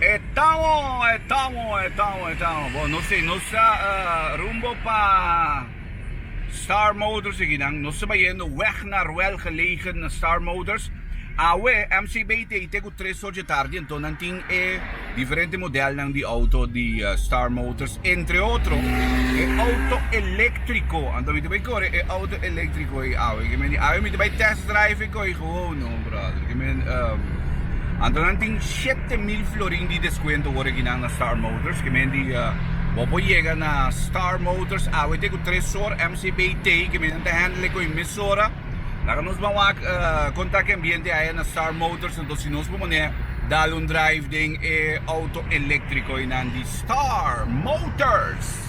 E tawo, e tawo, e tawo, e tawo. Bo no sé, nos ta rumbo pa Star Motors aki nan. Nos ta bayendo wèg na ruèl gelegen na Star Motors. Awe MCB ta ei te ku tres sor dje tardi, anto nan tin e diferente modelnan di outo di Star Motors. Entre otro, e outo eléktriko. Anto mi ta bay kore e outo eléktriko ei awe. Awe mi ta bay tèst drive e ko'i. Oh no brother, ke men ehm anto nan tin shete mil florin di deskuento wor aki nan na Star Motors ke men di bo por yega na Star Motors awe te ku Tresor MCBT ke men ta hendele ku emisora laga nos ban wak kontak ambiente aya na Star Motors anto si nos por pone dal un drive den e outo elektriko ei nan di Star Motors.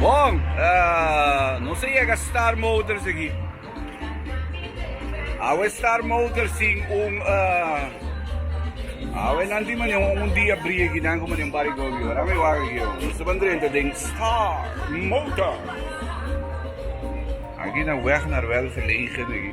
Bon! Nos a yega Star Motors aki. Awe Star Motors tin un Awe nan tin mane un dia briegi nan ku mane un par di gobi ho. Nan mi wak aki ho. Nos ta ban drenta den Star Motors. Aki na weg Naruel Verlegen aki.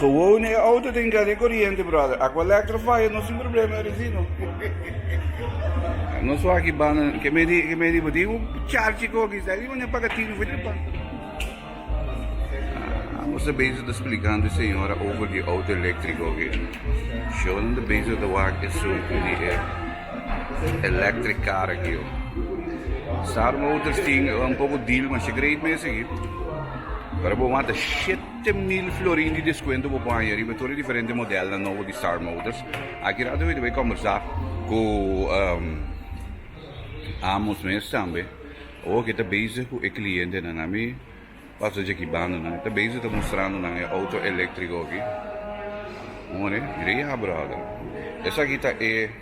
Gewoon e auto tin ke haci coriente brother. Acu electro faya no sin problema e resino. Nos so aki banda ke me di ke me di bo tin un charchi ko ki sta riba ne paga tin fo de pan. Amo sa bezig ta splikando señora over di auto electrico ki. Shonan ta bezig ta wak eso di e electric car aki yo. Sar motors tin un poco deal masha great mesa aki. Pero bo wanta shit. Te mil florin di deskuento bo por haña riba tur e diferente modelnan nobo di Star Motors. Aki rato e tabata kombersá ku Amos mes tambe. Awor ke ta bezig ku e klientenan. Ami pasa djaki banda nan. E ta bezig ta mostrando nan e outo eléktriko aki. More, mira ya bròder. Esaki ta e.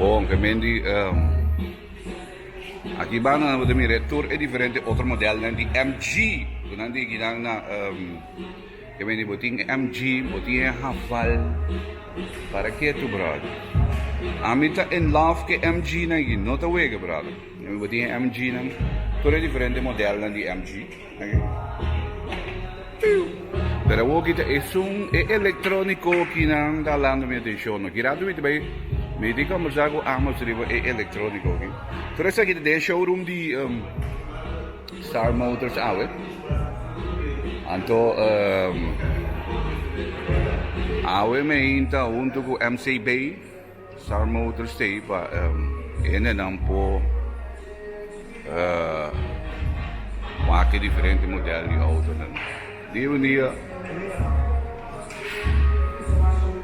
Bon ke men di ehm aki ba nan bo ta mira e tur e diferente otro modelnan di MG ku nan di kinan na ehm ke men di bo tin e MG bo tin e Haval para ke tu brother ami ta in love ke MG nan aki no ta wega brother bo tin e MG nan tur e diferente modelnan di MG. Pero hopi ta esun e elektroniko kinan ta halando mi atenshon. No kira tumiti bai miti kombersá ku Amos riba e elektroniko aki. Tur esaki ta den e showroom di Star Motors awe. Anto awe mi a hinta huntu ku MC Bay. Sarmo otro stay pa hendenan por make diferente model di autonan. Dia un dia,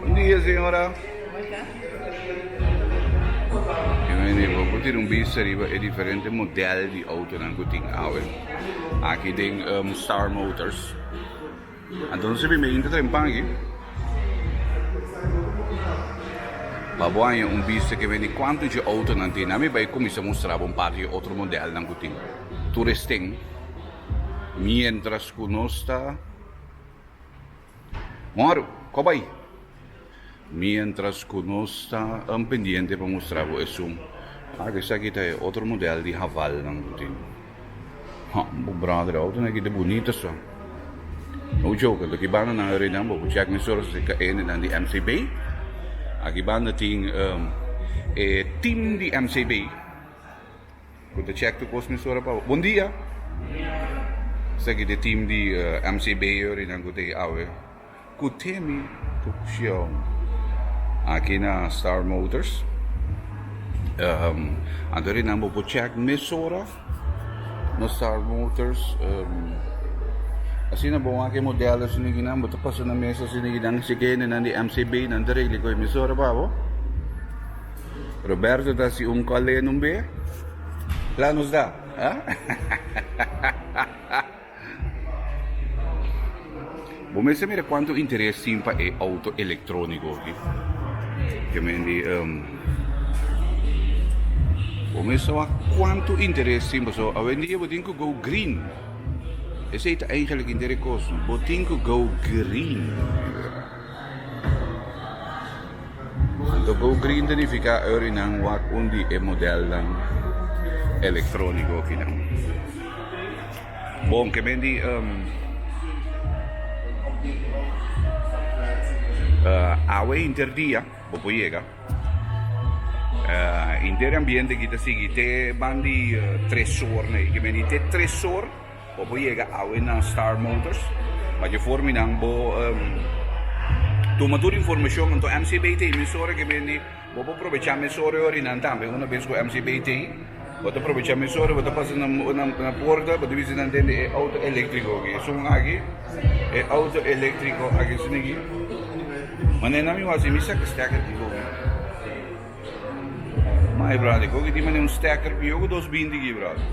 un dia señora, e hende bo por tira un bista riba e diferente model di autonan cu tin awe aki den Star Motors. Anto nos a bimbia hinter den pan aki. Pa bo haña un bista ke beni kuantu dje outo nan tin. Ami bai kuminsá mustra bo un par di otro modelnan ku tin. Tur es tin. Mientras ku nos ta honger, kòp bai. mientras cu nos ta an pendiente pa mustra bo esun. Oke, esaki ta e otro model di havalnan cu tin. Ha, bo brother, autonan aki ta bunita so. No joke, lo ki banda nan rei nan, bo por check mi stories di caenenan di MCB. Aki banda tin e team di MCB cu ta check tur cos mi story pa bo. Bondia! Esaki ta e team di MCB yorinan cu ta awe. Cu temi tuccion aki na Star Motors. Anto di nan bo por check mesora na Star Motors. Asina bo aki e modelo si nigi nan bo ta pasa na mesa si nigi nan si ke hende nan di MCB nan ta regli cu e mesora pa bo. Roberto ta hasi un cole numbe. Kla nos da. Bo mester mira cuanto interes tin pa e auto electronico aki. Ke men di, um, bo mester wak cuanto interes tin paso awendia bo tin ku go green. Esei ta eigenlijk interes kost. Bo tin ku go green. Anto go green ta nifiká Urry nan wak un di e modelnan elektróniko akinan. Bon, ke men di awe interdia bo por yega. Inter e ambiente aki ta sigui te ban di tres ornan, ke men di te tres or. Bo por yega awe na Star Motors pa dje for minan bo tuma tur informashon anto MCBI ta e mes ora ke bende bo por probecha mes ora e orinan tambe una bes ku MCBI ta ei bo ta probecha mes ora bo ta pasa na porta bo ta bisa nan tende e auto elektriko aki esun aki e auto elektriko aki esuna aki manera nan mi wak si mi sak stèk aki hopi. Mai brother, kiko kitima den un stacker pi yo ku dos binti aki brother.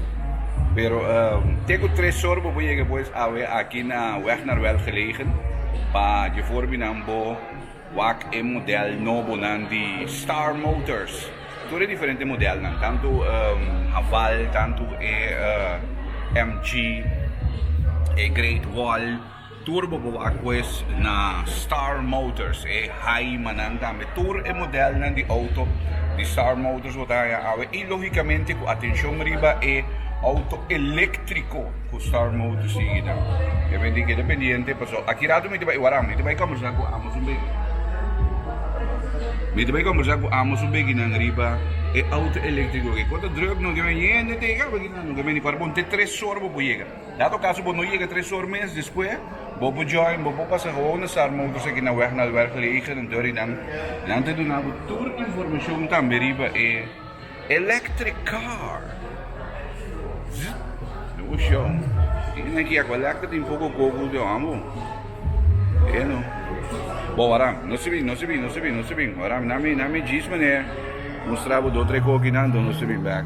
Pero uh, te ku tres sor bo por yega pues awe aki na Wegnerwel gelegen pa je for binan bo wak e model nobonan di Star Motors. Tur e diferente modelnan, tantu uh, Haval, tantu e uh, MG, e Great Wall, Tur bo bo a koes na Star Motors, e haimanan tambe. Tur e modelnan di outo di Star Motors bo ta haña awe i lógikamente ku atenshon riba e outo eléktriko ku Star Motors tin hita. E bendí keda pendiente pasobra aki rato mi ta bai waráu, mi ta bai kòmbersá ku amo su begi. Mi ta bai kòmbersá ku amo su beginan riba e outo eléktriko. Kon ta drùk no ke bai yende te yega aki nan, no ke bai ni pará bo. Te tres òr bo por yega. Dado caso bo no yega tres or mes despues, bo por join bo por pasa gewoon na Sarma of esaki na weg na Albergeleger en Dörrydam, nan ta duna bo tur informacion tambe riba e electric car. Zzzt. Bo shon, tin esnan ki ya cu electric tin poco coco den amo. E no. Bo waram, no se bin, no se bin, no se bin, no se bin. Waram, nan mi, nan mi djis meneer, mustra bo dos tres cokinan, den no se bin back.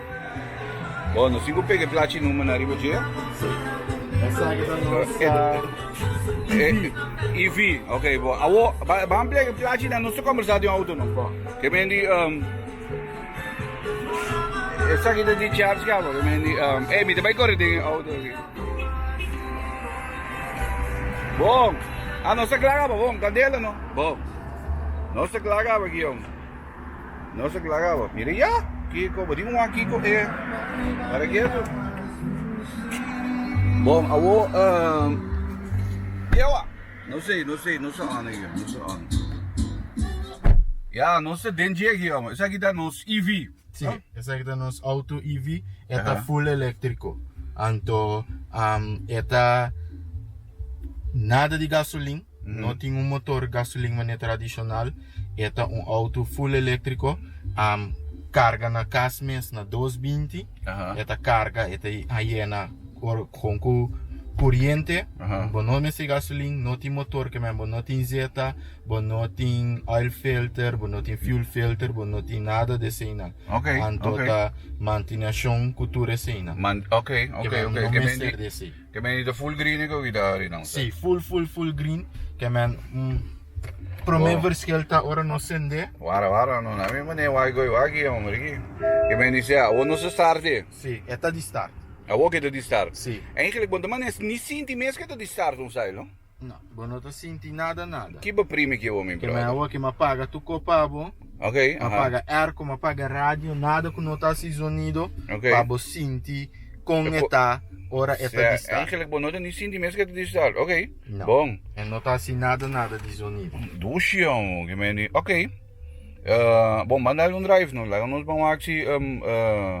Bo no si cu pega e plachi number na riba dje? Sí. Esaki ta nos e, e, e, EV. Ok, bo. Awo, ba, ba ampliar e plachi na nos conversar de auto, no? Bo. Que men di, um, esaki ta di charge ka, bo. Que men di, um, eh, mi te bai corre den auto. Bo, ah, no se clara, bo, bo, candela, no? Bo, no se clara, bo, guión. Nos a klara bo, mira ya, Kiko, bo di un wak Kiko e para ketu. Bon, awor, ehm, Kiewa? No sei, no sei, no sa ane io, no sa ane. Ya, nos ta den djeki ya, ma esaki ta nos EV. Si, no? esaki ta nos auto EV, e ta Aha. full eléctrico. Anto, ehm, e ta nada di gasolin, No tin un motor gasolin manera tradicional, e ta un auto full electrico, am carga na cas mes na dos binti, Aha. e ta carga, e ta a yena or con cu curiente, Aha. bo no mester gasolin, no tin motor que men, bo no tin zeta, bo no tin oil filter, bo no tin fuel filter, bo no tin nada de eseinan, Ok, anto ok. ta mantenacion cu tur eseinan, Man, ok, ok, que men ok. no E mester mester di así. Ke men di ta full green e kobida ari nan ta. Si, full full full green. Ke men prome verskil ta ora nos sendé. Wara wara no na mi mane wai goi wagi homber aki. Ke men di sea awor nos ta start e. Si, e ta di start. Awor ke ta di start. Si. Engelek bo ta mane ni sinti mes ke ta di start un sail no. No, bo no ta sinti nada nada. Ki bo primi ki bo mi brother? Ke me awoki ma paga tu ko pa bo. Ok, aha. Ma paga erko, ma paga radio, nada ku no ta hasi zonido Ok. pa bo sinti kon e ta ora e ta Sea, distal. eigenlijk bo no ta ni sinti mes ke ta distal. Ok, No. bon. E no ta hasi nada nada di zonido. Dushi amo ke me ni. Ok. Eh, bon, manda algun drive no, laga nos ban wak si em eh,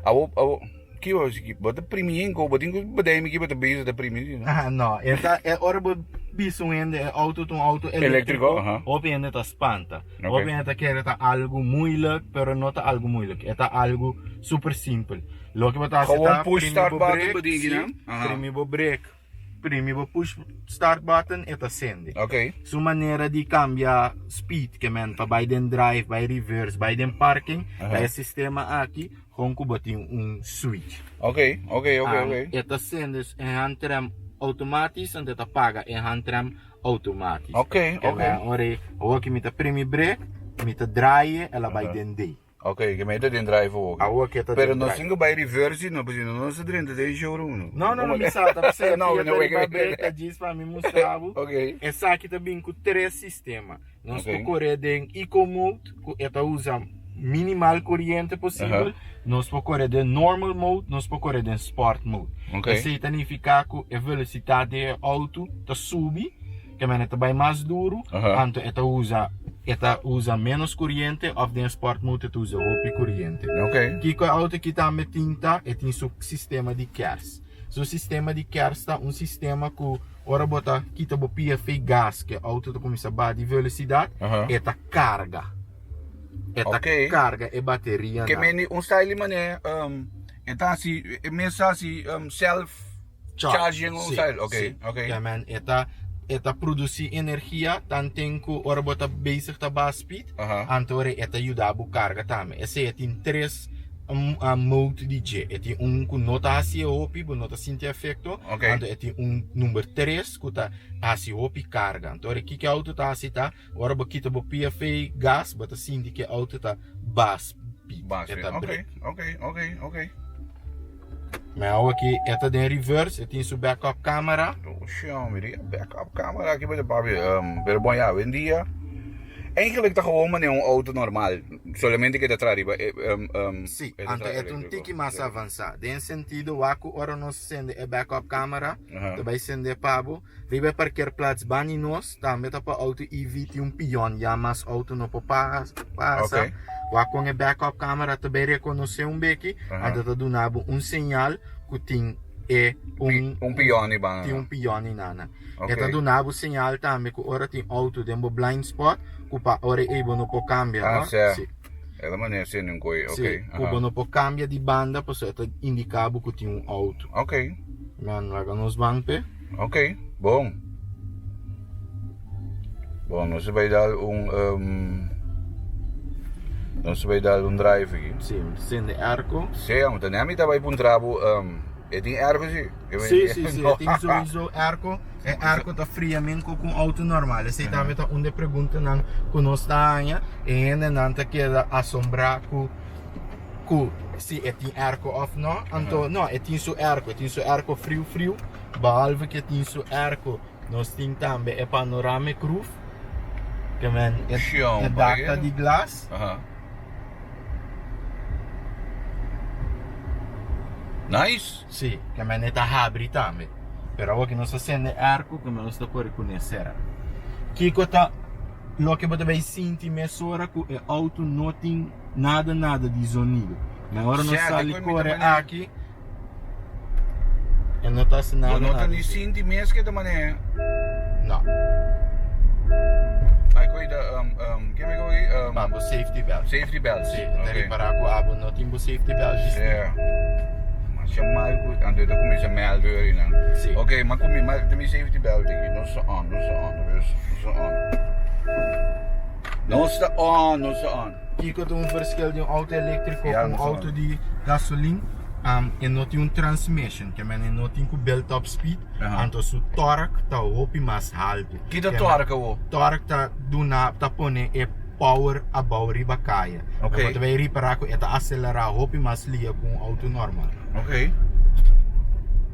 awo awo. Ki bo si ki bo ta primi hende o bo tin ku bedei mi ki bo ta bisa ta primi si no? Aha, no. E ta, e ora bo bisa un hende e outo ta un outo Eléktriko, eléktriko, aha. hopi hende ta spanta. Oke. Hopi hende ta kere ta algu muilek, pero no ta algu muilek. E ta algu super simpel. Loke bo ta hasi Gewoon ta push primi start bo button brek, bedien si, kinan. Aha. primi bo brek. Primi bo push start button e ta sende Ok. Su manera di cambia speed ke men pa bay den drive bay reverse bay den parking Aha. ta e sistema aki hon ku bo tin un switch Ok ok ok ok and e ta sende e handrem automatisch and e ta paga e handrem automatisch Ok ok Ke men ora e hoki mi ta primi brek mi ta draai e el a bay den D. Ok, ke mei ta den drive for oke. Awo ake ta den drive. Pero no sin ku bai reverse di no pasobra no nos ta drenta den showroom no. No no no mi sa ta p'esei aki e toriba breka jeans pa mi mustra bo. Ok. Esaki ta bin ku tres sistema. Nos por kore den eco mode ku e ta usa minimal koriente posibel, nos por kore den normal mode, nos por kore den sport mode. Ok. Esei ta nifiká ku e velosidat di e outo ta subi. E mene ta bai mas duru, anto e ta usa e ta usa menos curiente of den sport mode e ta usa hopi curiente. Okay. Kico e auto aki tambe tin ta, e tin su sistema di kers. Su sistema di kers ta un sistema cu ora bo ta kita bo pia fei gas cu e auto ta cuminsa ba di velocidad, e ta carga. E ta okay. carga e bateria. Ke meni un style di mane um, e ta hasi, e mester hasi um, self. Charge den un cel, ok, ok. Ya man, e ta, e ta produci energia tanten cu ora bo ta bezig ta baha speed, Aha. antori e ta yuda bo carga tambe. Esey e tin tres mode di dje. E tin un cu no ta haci e hopi, bo no ta sinti efecto, Ok. anto e tin un number tres cu ta haci hopi carga. Anto ora kiko auto ta haci ta. Ora bo kita bo pia fei gas bo ta sinti ke auto ta bas pit e ta brek. Ok, ok, ok, ok. Me awa ki e ta den reverse e tin su back up camera. Oshi hombre di back up camera aki bada papi um pero bon ya wendia eigenlik ta gewoon mane un auto normal solamente ke ta traha riba um um Si, anta e ta un tiki mas avansa den sentido wak ku ora nos sende e back up camera ta bai sende pa bo riba e parkeer plats bani nos. Tambe ta pa auto EV tin un pion ya mas auto no por pasa wak con e back up camera ta bay reconoce un beki en ta ta duna bo un señal cu tin e un pion riba tin un pion ni nana e ta duna bo señal tambe cu ora tin auto den bo blind spot cu pa ora ey bo no por cambia no si cu bo no por cambia di banda pasobra e ta indica bo cu tin un auto man laga nos ban pe. Ok, bon. Bon, nos a bai dal un um, nos a bai dal un drive aquí. Sí, sin de airco. Sí, amo, ta nea mi ta bai puntra bu um, e tin airco sí? E bai- Sí, sí, sí, e tin sowieso airco. E airco ta fria men ku ku un auto normal. Esei tambe ta un de e preguntanan ku nos ta haña. E hendenan ta keda asombrá ku. cu si e tin airco of no anto no e tin su airco e tin su airco friu friu behalve que tin su airco nos tin tambe e panoramic roof que men e dak ta di glas si que men e ta habri tambe pero awo que nos ta sende e airco que men nos ta cori cune cera kico ta loke bo ta bay sinti mesora cu e auto no tin nada nada di zonido mi ora no sali kore aki e no ta haci nada nada di zonido No sta on, no sta on. Kiko ta un perskil di un auto eléktriko ku un auto di gasolin? E no tin un transmishon, ke men e no tin ku bèl tòp spid, anto su tòrk ta hopi mas haltu. Ki ta tòrk awor? Tòrk ta duna, ta pone e power abou riba kaya. Ok. Bo ta bai ripará ku e ta aselerá hopi mas lia ku un auto nòrmal. Ok.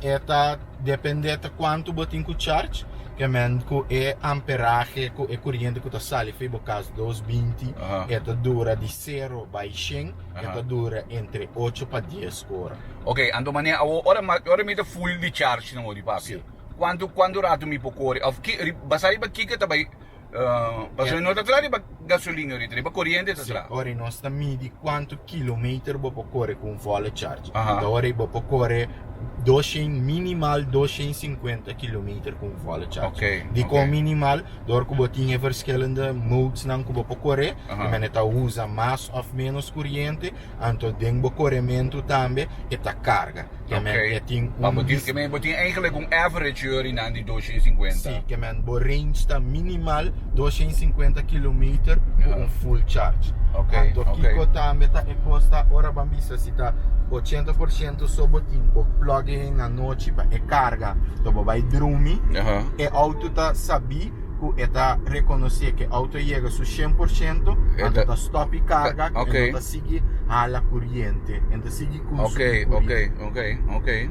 E ta depende ta cuantu bo tin cu charge, ke men cu e amperahe, cu e curiente cu ta sali fi bo cas dos binti, e ta dura di cero bai shen, e ta dura entre ocho pa dies ora. Ok, anto manera awor, ora mi, ora mi ta full di charge na modi, papia, cuantu, cuantu rato mi por core, of ki, basá riba kiko ta bai. Pasobra no ta tra riba gasolina ahorita, riba coriente ta tra. Ora nos ta midi cuantu kilometer bo por core cu un volle charge. Aha. Ta ora bo por core doshen, minimal doshen i sinkuenta kilometer cu un volle charge. Ok, ok. Dicon minimal? Door cu bo tin e verschillende modes nan cu bo por core, Aha. e mene ta usa mas of menos coriente. Anto den bo korementu tambe e ta karga. Ke men e tin un. Bo tin, ke men bo tin eigenlik un average yori nan di dos shen sinkuenta. Si, ke men bo range ta minimal dos shen sinkuenta kilometer ku un full charge. Anto kiko tambe ta e kosta ora bo a bisa si ta ochenta por shento so bo tin bo plug in anochi pa e karga tok bo bai drumi e outo ta sabí. cu e ta reconoce cu e auto yega su cien por ciento, E ta- anto ta stop y carga, Ta- oké. e no ta sigui hala curiente, e ta sigui curso Ok, di curie. ok, ok, ok.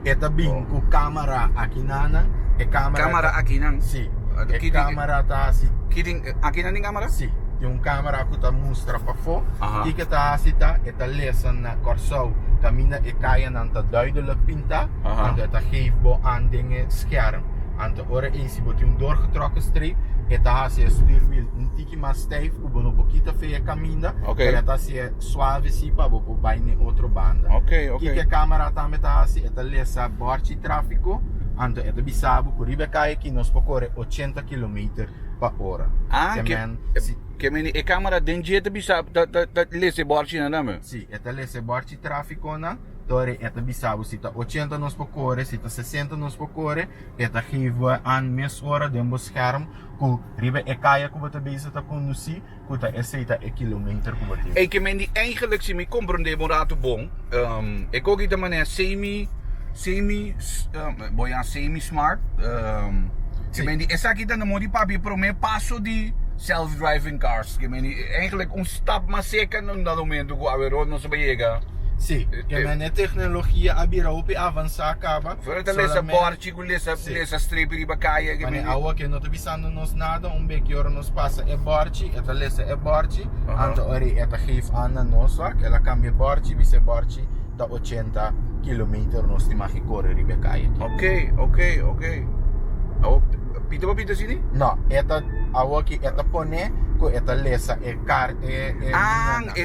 E ta bin Oh. cu camera aki nanan, e camera... Camera ta- aki nan? Si, Ah, e ki di- camera ta hasi Ki tin, aki nan tin camera? Si, tin un camera cu ta mustra pafo. Aha. Kiko ta hasi ta, e ta lesa na Corsou, caminda e cayanan ta duidelijk pinta, Aha. anto e ta geef bo an den e scherm. Anto ora ei si bo tin un doorgetrokken streep, e ta hasi e stuurwiel un tiki mas stijf ku bo no por kita fe e kaminda, Oké. pero e ta hasi e suave si pa bo por bai n'e otro banda. Oké, oké. Kiko e camera tambe ta hasi, e ta lesa bòrchi tráfiko, anto e ta bisa bo ku riba e kai aki nos por kore ochenta kilometer pa ora. Ah, Te ke, men, si, ke meni e camera den dje ta bisa, ta, ta, ta lesa e bòrchinan tambe? si, e ta lesa e bòrchi tráfikonan. Tori e ta bisa bo si ta ochenta nos por kore, si ta sesenta nos por kore, e ta geef bo e an mes ora den bo scherm ku riba e kaya ku bo ta bezig ta kondusí ku ta esei ta e kilometer ku bo tin. Ei kemendi eigenlik si mi komprondé bo un ratu bon, e koki ta manera semi semi bo ya semi smart, kemendi esaki ta na modi papia e prome paso di self driving cars, kemendi eigenlik un stap mas seka na na momento ku awe rònt nos a yega. Sí, e mende e tecnologia a bira hopi avansá caba, Afuera ta lesa solamente- bòrchi cu lesa Sí. lesa strepi riba kaya ke Mane men awo ke no ta bisando nos nada, un beki ora nos pasa e bòrchi, e ta lesa e bòrchi, Aha. anto ori e ta geef an na nos wak, el a kambia e bòrchi, bisa e bòrchi ta ochenta kilometer, nos tin maki kore riba e kaya aki. Ok, ok, ok. Awo pita pa pita asini? No, e ta, awoki e ta pone ku e ta lesa e kar e e Ah, e.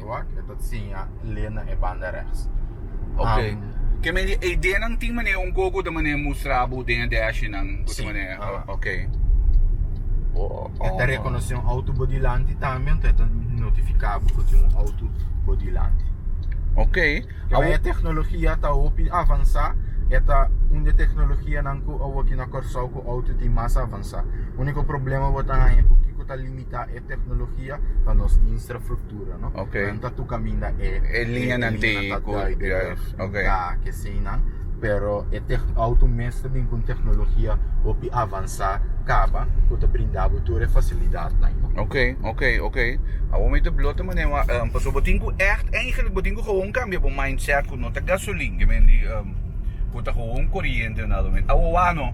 Wak, e ta siña lee na e banda rechts. Ok. Am, Ke men di eidenan tin manera un gogo ta manera mustra bo den e dashinan ku ta Sí, manera. aha. Ok. e ta rekonosé un auto bo dilanti tambe, enton e ta notifiká bo ku tin un auto bo dilanti. Ok. Pero e teknologia ta hopi avansá, e ta un di e teknologianan ku awoki na Kòrsou ku auto tin mas avansá. Úniko problema bo ta haña ku kiko ta limi. ta e teknologia ta nos instrafruktura no nan ta tur kaminda e liñanan ta dai den bèf ya keseinan pero e auto mes ta bin ku un teknologia hopi avansá kaba ku ta brinda bo tur e fasilidatnan no oke oke oke awor mi ta blota manera wak pasobra bo tin ku ègt eingelik bo tin ku gewoon kambia bo mindset ku no ta gasolin ke men di ku ta gewoon koriente awor wak no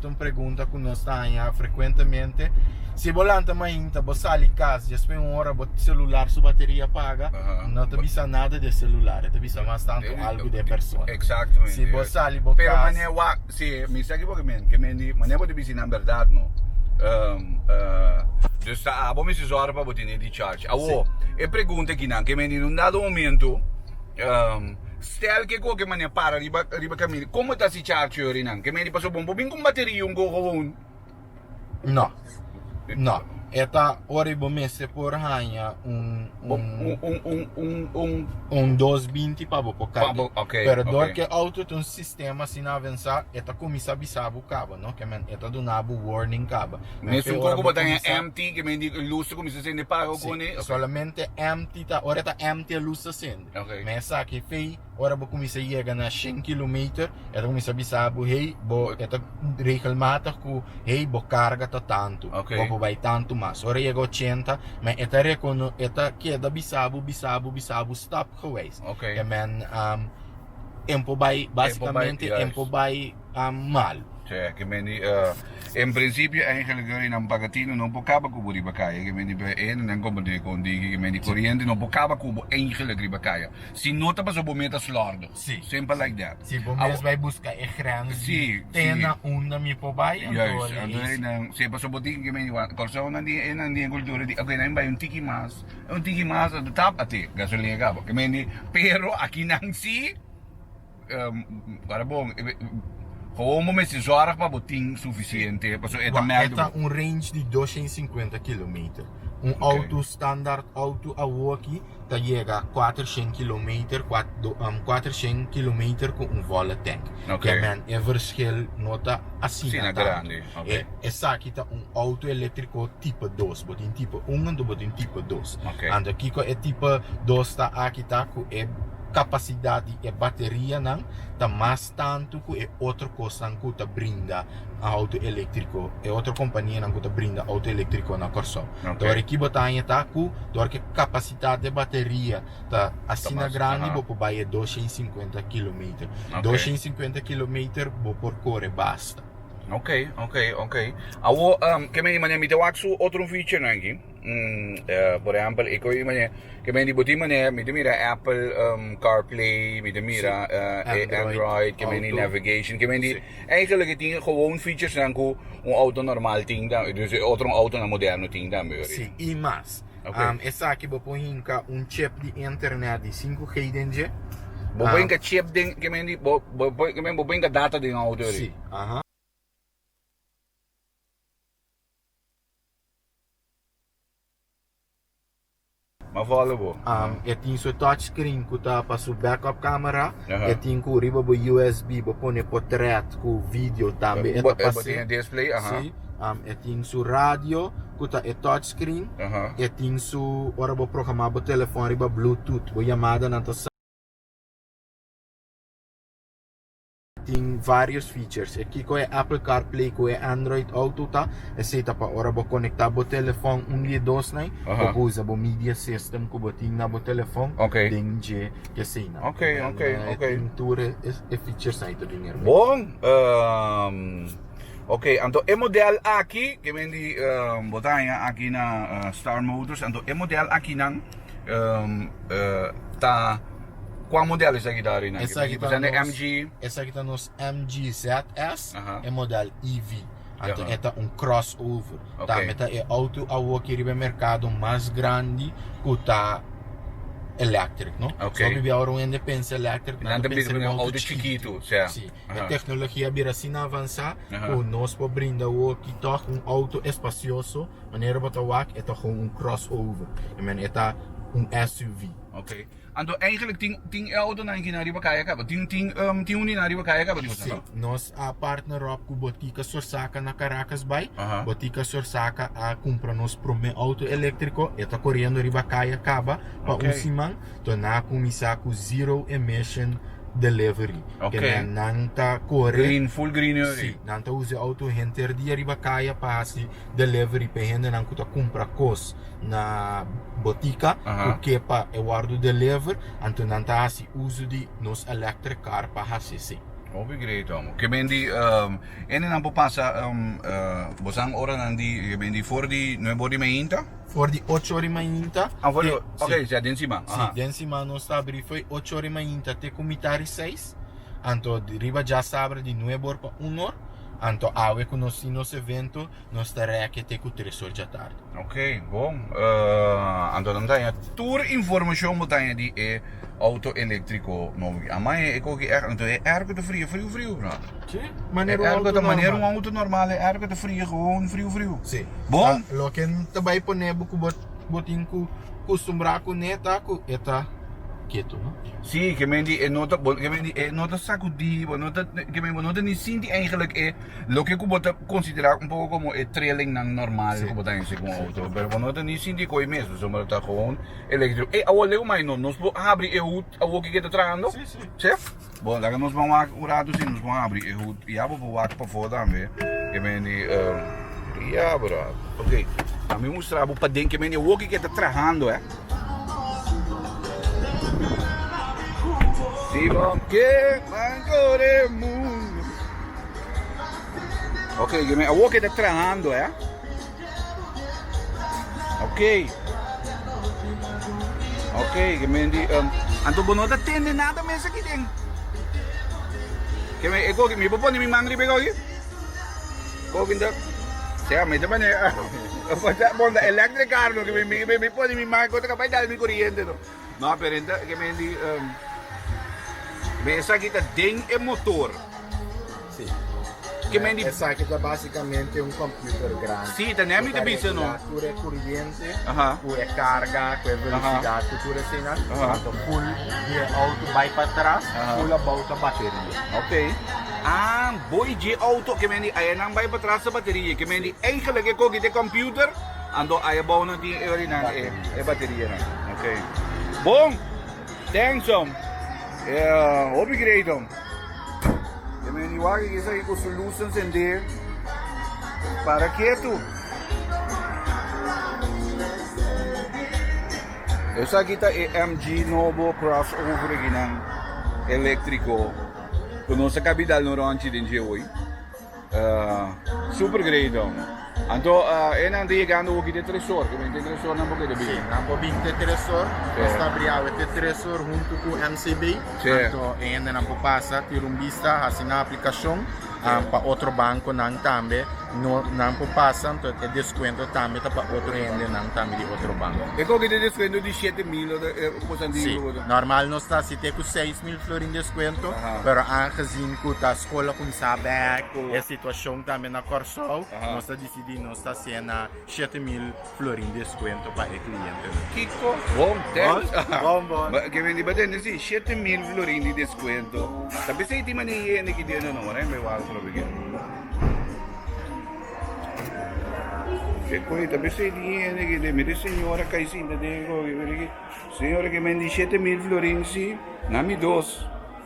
ta un pregunta cu nos ta haña frecuentemente. Si bo lanta mainta, bo sali cas, despues un ora bo celular su bateria paga, Aha. no ta bisa nada de celular, ta bisa mas tanto Deri- algo de persona. Exacto. Si bo sali bo Pero cas- mane wak, si, mi sa ki bo ke men, ke men di, mane bo ta bisi nan berdad no. Ehm, eh, dus ta abo mester zorg pa bo tene di charge. Awo, e pregunta aki nan, ke men di in un dado momento, ehm, stel ke koke mane para riba, riba caminda, como ta si. di char theory nan. Ke medi paso bon bo bin cu un bateria un go go un. No. No. E ta ora y bo mester por hanja un un un un dos binti pa bo por cari. Pa bo okay. Pero door ke auto ta un sistema asina avensa e ta cuminsa bisa bo caba no. Ke men e ta duna bo warning caba. Mes un coco bo ta hanja empty ke medi e luz ta cuminsa sende paga o cone. Si. Solamente empty ta ora ta empty e luz ta sende. Okay. Me esaki fey. Ora bo kuminsá yega na shen kilometer e ta kuminsá bisa bo, hey, bo, e ta regelmatig ku, hey, bo karga ta tantu, Ok. bo por bai tantu mas. Ora e yega ochenta men e ta rekono, e ta keda bisa bo, bisa bo, bisa bo stapgewijs. Ok. E men am en por bai, basikamente en juist. por bai am mal. Te ke men di eh, en prinsipio eigenlijk dor e nan bagatino no por kaba ku bo riba kaya, ke men di be e nan konpondé kon di ke men di koriente no por kaba ku bo eigenlijk riba kaya. Si no ta paso bo meta slordo. Si. Simple like that. Si bo mes bai buska e grens di tena unda mi por bai anto ey esi. Anto ey nan si paso bo tin kimen wan Corsou nan tin ey nan tin e cultura di oke nan bai un tiki mas un tiki mas anto tap ate gasolina kaba kimen di pero aki nan si Para bon, Gewoon bo mester zorg pa bo tin sufisiente, pasobra e ta Wa, merk e di ta bo. un range di dosha i sinkuenta kilometer. Un Oké. outo, standaard outo awo aki ta yega kuater shen kilometer, kua, do, kuater shen kilometer ku un volle tank. Oké. Ja men, e verschil no ta asina Asina tantu. grandi, oké. E, esaki ta un outo elektriko tipo dos. Bo tin tipo un anto bo tin tipo dos. Oké. Anto kiko e tipo dos ta aki ta ku e. kapasidat di e baterianan ta mas tantu ku e otro kosnan ku ta brinda outo eléktriko, e otro kompanianan ku ta brinda outo eléktriko na Kòrsou. Oké. Dor aki bo ta haña ta ku dor ku e kapasitat di e bateria ta asina mas, grandi, aha. bo por bai e dosha i sinkuenta kilometer. Oké. Dosha i sinkuenta kilometer bo por kore basta. Oké, oké, oké. Awor, ke men i mane mi ta wak su otro un featurenan aki. Por ehempel, e coi e manera ke men di bo tin manera mi ta mira e Apple CarPlay, mi ta mira e Android ke men di navigation, ke men di eigenlijk e tin gewoon featuresnan ku un outo normal tin tambe, dus e otro outonan moderno tin tambe wak. Sí, i mas. Esaki bo por hinka un chip di internet di sinku G den dje. Bo por hinka chip den, ke men di, bo por hinka data den outo eri. Sí, aha. Ma follow bo. Um, e tin su touchscreen ku ta pa su backup camera. Aha. E tin ku riba bo USB bo pone potret ku video tambe. E Bo- ta eh, pa bo se- tiene display, aha. Sí. Um, e tin su radio ku ta e touchscreen. Aha. E tin su, ora bo programa bo telefòn riba Bluetooth, bo yamadanan ta sa. Tin varios features. E kiko e Apple CarPlay ku e Android Auto ta? Esei ta pa ora bo konektá bo telefòn un di e dosnan, bo por usa bo media system ku bo tin na bo telefòn den dje keseina. E tin tur e features ai ta den erbé. Bon! Oke, anto e modèl aki, ke men di bo ta haña aki na Star Motors, anto e modèl akinan. ta kua model esaki ta arenan aki por ejemplo esaki ta mg esaki ta nos mg zs e model ev anto e ta un cross over tambe ta e auto awo aki riba e mercado mas grandi ku ta electric no so biba ora un hende pensa electric nan ta pensa riba un auto chikitu si e tecnologia a bira asina avansa ku nos por brinda awo aki tog un auto espacioso. Manera bo ta wak e ta gewoon un crossover. I mean e ta un SUV. Ok. Anto eigenlijk tin tin e autonan aki nan riba kaya kaba? Tin tin um tin unina riba kaya kaba di boso anto? Si. Nos a partner ròp ku Botica Sorsaca na Caracas bai. Aha. Botica Sorsaca a kumpra nos promé auto eléktriko. E ta koriendo riba kaya kaba pa Ok. un siman. Tò nan a kuminsá ku zero emission delivery. Ok. Ke nan nan ta kore. Green, full green e ori. Si. Nan ta usa e auto henter dia riba kaya pa hasi. delivery p'e hendenan ku ta kumpra kos na botika ku ke pa e wòrdu deliver, anto nan ta hasi uso di nos electric car pa hasi esei. Hopi great amo. Ke ben di hendenan por pasa bosan oranan di ke ben di for di nuebe or di mainta? For di ocho or di mainta. Ah for di ok o sea den siman. Si den siman nos ta abri for di ocho or di mainta te ku mitar di seis, anto riba dja sabra di nuebe or pa un or. Anto awe cu nos tin nos evento, nos ta reke te cu tres or djatard. Ok, bon. Anto nan daña tur informacion bo daña di e auto electrico nou aki. Amai e cogi air, anto e air cu ta fria friu friu, no? Si, manera un auto normal. Manera un auto normal e air cu ta fria, gewoon friu friu. Si. Bon. Loke nan ta bay pone bo cu bo. Bo tin cu custumbrá cu ne ta cu e ta ketu, no? Sí, ke mende e no ta, bo, ke mende e no ta sacudí, bo no ta, ke mende bo no ta ni sinti eigenlijk e loke cu bo ta considerá un poco como e trillingnan normal cu bo ta hese cu un auto, pero bo no ta ni sinti e coe mes, bo sombra ta gewoon electrico. Ey, awor leu mai no, nos por habri e hut awor cu ke ta trahando? Sí, sí. Sí? Bon, laga nos ban wak un ratu si nos bon abri e hut. Ya bo por wak pafó tambe. Ke mende eh, ya brada. Ok, a mi mustra bo paden ke mende woki ke ta trahando, eh. Si bo ke man kore mundo. Ok, ke men, a woki ta trahando, eh. Ok. Ok, que me di um, anto bono ta tende nada mes aquí den. Que me ego que me bo pone mi man ribe aquí. Go que da. Sea, me te pone. Bonda electric car no que me me me pone mi man contra capaz dal mi corriente no. No aparenta e men di um, men esaki ta den e motor. Sí. Que men di... Esaki ta básicamente un computer grande. Sí, ta nem te bisa no. Tur e corriente, Aha. cu e carga, cu e velocidad, cu tur e sina. Cuando full de auto vai para atrás, full about a batería. Ok. Ah, boy je auto que men di ayenan vai para atrás a batería. Que men di eigenlijk e cogi te computer Ando ai abou nan tin e orinan e bateria nan ok bon thanks om hopi great om e men di wak aki esaki ku su luz ensende para ketu esaki ta e mg nobo cross over aki nan electrico ku nos a kabidal un ronchi den dje hoy. Super great don. Anto uh, e nan llegando hoki de tresor, que vente tresor nan porque de bini. Sí, nan por vinte tresor, sí. nos está briawe te tresor junto con MCB. Sí. Anto e hende nan por pasa, tira un vista, hace una aplicación sí. um, para otro banco nan también. No, nan por pasa, anto e descuento también está para otro hende nan también de otro banco. E coge de descuento de 7 mil o de eh, cosa sí. Normal no está, si te con 6 mil florin descuento, Aha. pero aangezien que está cola cu mi sa bek cu e situacion tambe na Corsou nos a dicidi nos ta hacena shete mil florin descuento pa e clientenan. Kico bon thanks aha bon bon ke wendi ba tende si shete mil florin di descuento ta bisa y tin mane y hende ki tende o no wardai bay wak probi ke kico ta bisa y tin hende ki tende mire señora cay sinta den señora ke men di shete mil florin si na mi dos.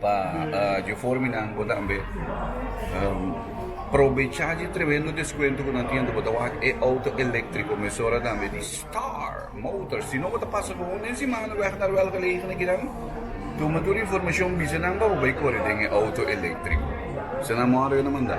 Pa dje forma nan bo tambe probecha dje tremendo deskuento ku nan tin. Bo ta wak e outo eléktriko mesora tambe di Star Motor. Si no bo ta pasa bon den simana wèg na Ruel Gelegenha aki nan, tuma tur informashon bisa nan pa bo bai kore den e outo eléktriko. Bisa nan mor bo na manda.